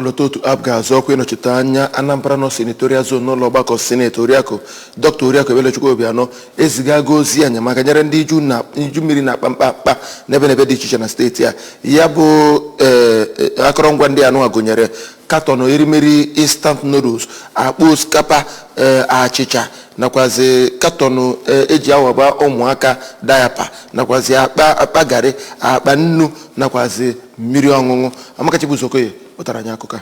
ọlọtọ otu APGA azọ ọkwa ịnọchite anya anambra north senatorial zone n'ụlọ ọgbakọ sineti oriakụ dr oriakụ ebelechukwu obianọ ezigago ozi enyemaka nyere ndị iju na- iju mmiri na-akpa mkpamkpa n'ebe n'ebe dị iche iche na steeti a ya bụ eh, eh, akọrọngwa ndị anụ a gụnyere katọn erimeri instant noodles akpa osikapa eh, achịcha nakwazi katọnụ eh, eji awaba ụmụaka diaper nakwazi akpa garị akpa nnu nakwazi mmiri ọṅụṅụ Amaka Chibuzo Okoye wetara anyị akụkọ a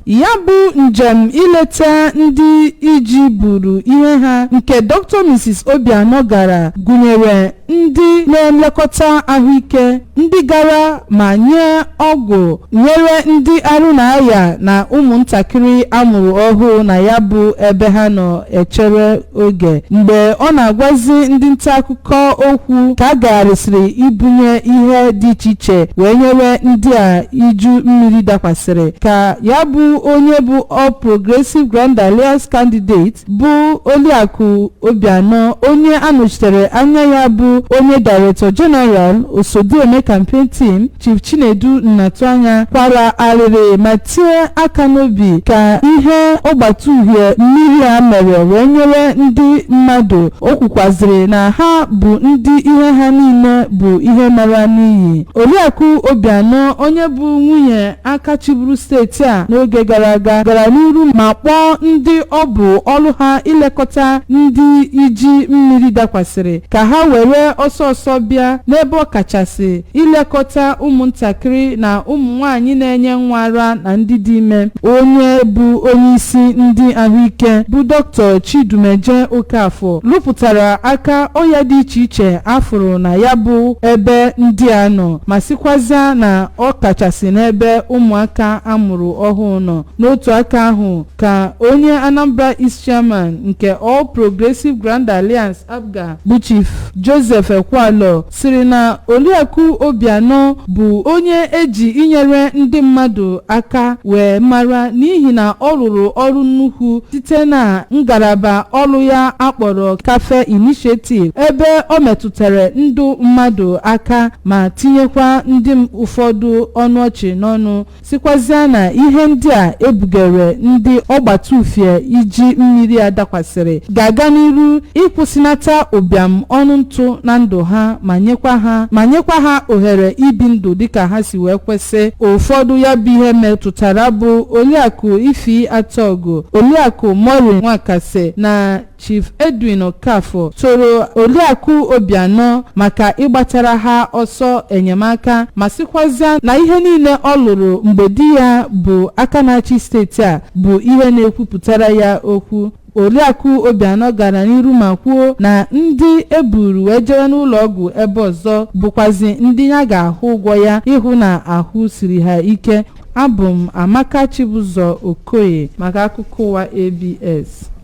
ya bụ njem ileta ndị iji buru ihe ha nke dr mrs obianọ gara gụnyere ndị na-elekọta ahụike ndị gara ma nye ọgwụ nyere ndị arụ na-aya na ụmụntakịrị a mụrụ ọhụụ na ya bụ ebe ha nọ echere oge mgbe ọ na-agwazi ndị nta akụkọ okwu ka a gagharịsịrị ibunye ihe dị iche iche wee nyere ndị a iju mmiri dakwasịrị ka ya bụ onye bụ All Progressive Grand Alliance candidate bụ Oliakụ Obianọ onye anọchitere anya ya bụ onye Director General Osodieme Campaign Team Chief Chinedu Nnatuanya kwara arịrị ma tie aka n'obi ka ihe ọgbata uhie mmiri a mere wee nyere ndị mmadụ. O kwukwazịrị na ha bụ ndị ihe ha niile bụ ihe nara n'iyi. Oriakụ Obianọ onye bụ nwunye aka chịburu steeti a n'oge gara aga gara n'iru ma kpọọ ndị ọ bụ ọrụ ha ilekọta ndị iji mmiri dakwasịrị ka ha were ọsọ ọsọ bịa n'ebe ọ kachasị ilekọta ụmụntakịrị na ụmụ nwaanyị na-enye nwa ara na ndị dị ime. Onye bụ onyeisi ndị ahụike bụ Dr. Chidumeje Okafor lụpụtara aka ọya dị iche iche a fụrụ na ya bụ ebe ndị a nọ ma sịkwazịa na ọ kachasị n'ebe ụmụaka a mụrụ ọhụụ nọ. N'otu aka ahụ ka onye Anambra East Chairman nke All Progressive Grand Alliance, APGA, bụ Chief Joseph Ekwualor sịrị na Oriakụ Obianọ bụ onye eji inyere ndị mmadụ aka wee mara n'ihi na ọ rụrụ ọrụ nnukwu site na ngalaba ọrụ ya akpọrọ Cafe Initiative ebe ọ metụtara ndụ mmadụ aka ma tinyekwa ndị ụfọdụ ọnụ ọchị n'ọnụ sịkwazịa na ihe ndị a e bugere ndị ọgbata ufie iji mmiri a dakwasịrị ga-aga n'iru ịkwụsịnata ụbịam ọnụ ntụ na ndụ ha ma nyekwa ha ohere ibi ndụ dịka ha si wee kwesị ụfọdụ ya bụ ihe metụtara bụ Oriakụ Ify Atọgụ Oriakụ Maureen Nwakasị na Chief Edwin Okafor toro Oriakụ Obianọ maka ịgbatara ha ọsọ enyemaka ma sịkwazịa na ihe niile ọ lụrụ mgbe di ya bụ aka na-achị steeti a bụ ihe na-ekwupụtara ya okwu. Oriakụ Obianọ gara n'iru ma kwuo na ndị e buru wee jewe n'ụlọọgwụ ebe ọzọ bụkwazị ndị ya ga-ahụ ụgwọ ya ịhụ na ahụ siri ha ike. Abụ m Amaka Chibụzọ Okoye maka akụkọ ụwa ABS.